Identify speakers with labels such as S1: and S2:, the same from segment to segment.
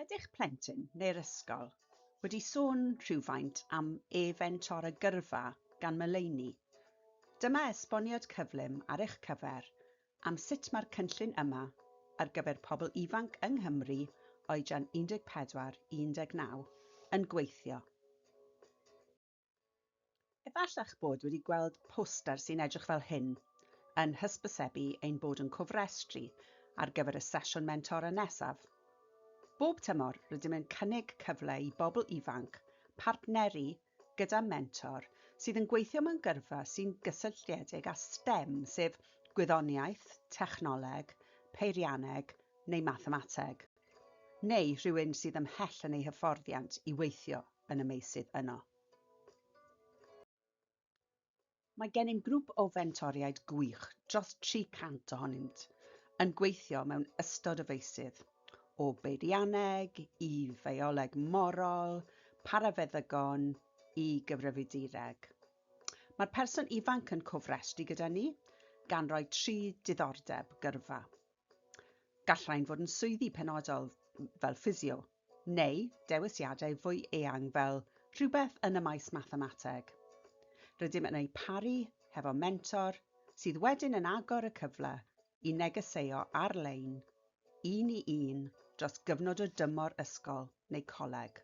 S1: Ydy'ch plentyn neu'r ysgol wedi sôn rhywfaint am e-fentor a gyrfa gan Melaney? Dyma esboniad cyflym ar eich cyfer am sut mae'r cynllun yma ar gyfer pobl ifanc yng Nghymru oedran 14 i 19 yn gweithio. Efalla'ch bod wedi gweld poster sy'n edrych fel hyn yn hysbysebu ein bod yn cofrestru ar gyfer y sesiwn mentora nesaf. Bob tymor, rydym yn cynnig cyfle i bobl ifanc partneru gyda mentor sydd yn gweithio mewn gyrfa sy'n gysylltiedig â STEM, sef gwyddoniaeth, technoleg, peirianneg neu mathemateg, neu rhywun sydd ymhell yn eu hyfforddiant i weithio yn y meysydd yno. Mae gennym grŵp o fentoriaid gwych, dros 300 ohonynt, yn gweithio mewn ystod o feysydd, o beirianneg i fioleg morol, parafeddygon i gyfrifiadureg. Mae'r person ifanc yn cofrestru gyda ni, gan roi tri diddordeb gyrfa. Gall rhain fod yn swyddi penodol fel ffisio, neu dewisiadau fwy eang fel rhywbeth yn y maes mathemateg. Rydym yn eu paru hefo mentor sydd wedyn yn agor y cyfle i negeseuo ar-lein, un i un, dros gyfnod o dymor ysgol neu coleg.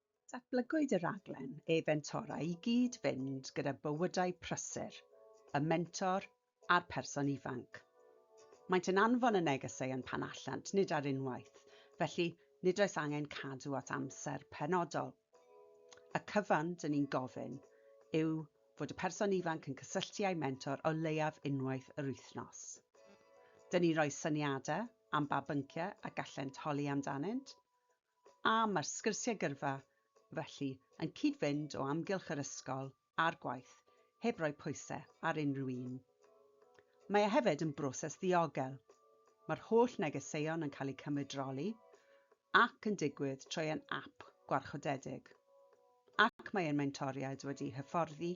S1: Datblygwyd y rhaglen e-fentora i gyd-fynd gyda bywydau prysur y mentor a'r person ifanc. Maent yn anfon y negeseuon pan allant, nid ar unwaith, felly nid oes angen cadw at amser penodol. Y cyfan, dŷn ni'n gofyn, yw fod y person ifanc yn cysylltu â'i mentor o leiaf unwaith yr wythnos. Dŷn ni'n rhoi syniadau am ba bynciau y gallent holi amdanynt, a mae'r sgyrsiau gyrfa, felly, yn cyd-fynd o amgylch yr ysgol a'r gwaith, heb roi pwysau ar unrhyw un. Mae e hefyd yn broses ddiogel. Mae'r holl negeseuon yn cael eu cymryd droli ac yn digwydd trwy ein ap gwarchodedig, ac mae ein mentoriaid wedi hyfforddi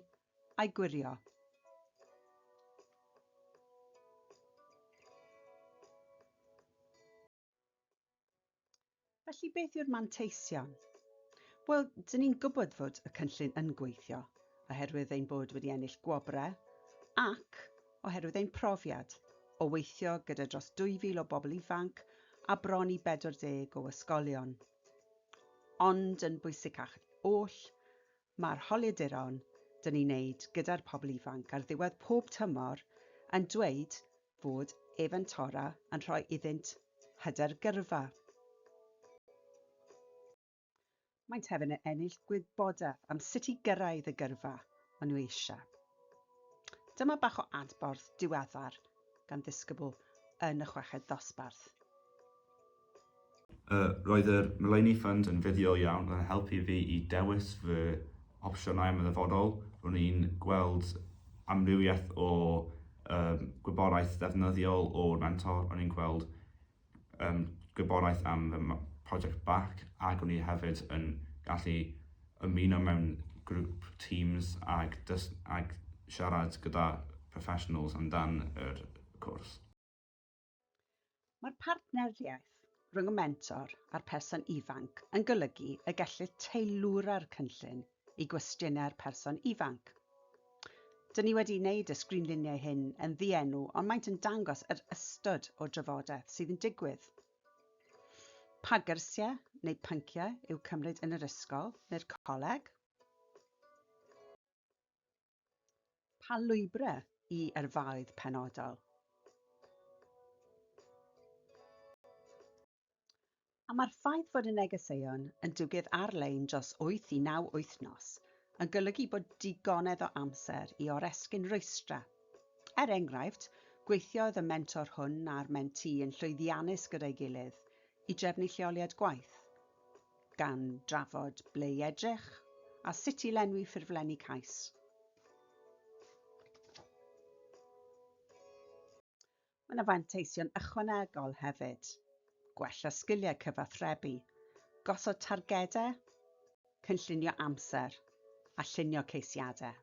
S1: a'i gwirio. Felly beth yw'r manteision? Wel, dyn ni'n gwybod fod y cynllun yn gweithio, oherwydd ein bod wedi ennill gwobrau ac oherwydd ein profiad o weithio gyda dros 2,000 o bobl ifanc a bron i 40 o ysgolion. Ond yn bwysicach oll, Mae'r holiaduron dyn ni'n neud gyda'r pobl ifanc ar ddiwedd pob tymor yn dweud fod ef yn Torah yn rhoi iddynt hyder gyrfa. Maent hefyd yn ennill gwybodaeth am sut i gyrraedd y gyrfa maen nhw eisiau. Dyma bach o adborth diweddar gan ddisgybl yn y chweched ddosbarth.
S2: Uh, roedd yr Mulaney Fund yn fuddiol iawn, roedd yn helpu fi i dewis fy opsiynau am y ddyfodol. Ro'n i'n gweld amrywiaeth o um, gwybodaeth ddefnyddiol o'r mentor, ro'n i'n gweld um, gwybodaeth am y prosiect BAC ac ro'n i hefyd yn gallu ymuno mewn grŵp teams ac, dys, ac siarad gyda professionals amdan yr cwrs.
S1: Mae'r partneriaeth rhwng y mentor a'r person ifanc yn golygu y gellir teilwra'r cynllun i gwestiynau'r person ifanc. Dyn ni wedi wneud y sgrinluniau hyn yn ddienw ond maent yn dangos yr ystod o drafodaeth sydd yn digwydd. Pa gyrsiau neu pynciau yw cymryd yn yr ysgol neu'r coleg? Pa lwybrau i yrfaoedd penodol? A mae'r ffaith fod y negeseuon yn dwgedd ar-lein dros wyth i naw wythnos yn golygu bod digonedd o amser i oresgyn rwystrau. Er enghraifft, gweithiodd y mentor hwn a'r mentee yn llwyddiannus gyda'i gilydd i drefnu lleoliad gwaith. gan drafod ble i edrych a sut i lenwi ffurflenni cais. Mae yna fanteision ychwanegol hefyd, gwella sgiliau cyfathrebu, gosod targedau, cynllunio amser a llunio ceisiadau.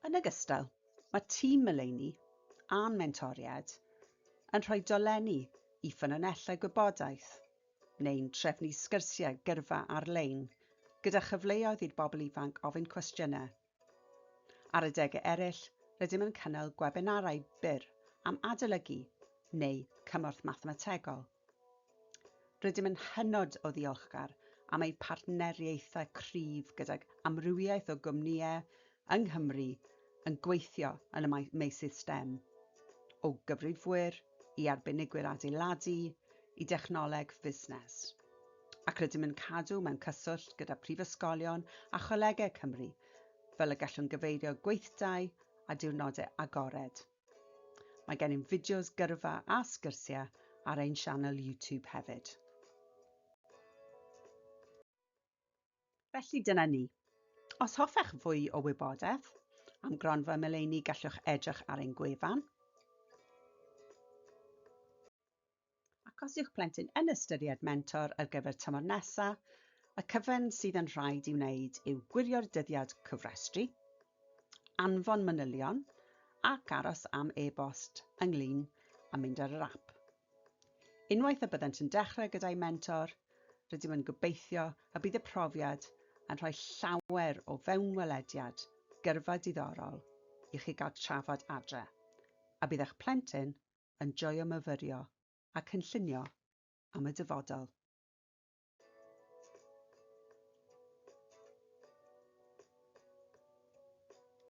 S1: Yn ogystal, mae tîm Meleini a'n mentoriad yn rhoi dolenni i ffynonellau gwybodaeth neu'n trefnu sgyrsiau gyrfa ar-lein gyda chyfleoedd i'r bobl ifanc ofyn cwestiynau. Ar adegau eraill, rydym yn cynnal gwebinarau byr am adolygu neu cymorth mathemategol Rydym yn hynod o ddiolchgar am ein partneriaethau cryf gydag amrywiaeth o gwmnïau yng Nghymru yn gweithio yn y meysydd stem, o gyfrifwyr i arbenigwyr adeiladu i dechnoleg fusnes, ac rydym yn cadw mewn cyswllt gyda phrifysgolion a cholegau Cymru fel y gallwn gyfeirio gweithdai a diwrnodau agored. Mae gennym fideos gyrfa a sgyrsiau ar ein sianel YouTube hefyd. Felly dyna ni. Os hoffech fwy o wybodaeth am gronfa Meleini gallwch edrych ar ein gwefan. ac os yw'ch plentyn yn ystyried mentor ar gyfer tymor nesaf, y cyfan sydd yn rhaid i'w wneud yw gwirio'r dyddiad cofrestru, anfon manylion ac aros am e-bost ynglyn a mynd ar yr ap. Unwaith y byddant yn dechrau gyda'i mentor, rydym yn gobeithio y bydd y profiad yn rhoi llawer o fewnwelediad gyrfa diddorol i chi gael trafod adre, a bydd eich plentyn yn joio myfyrio a cynllunio am y dyfodol.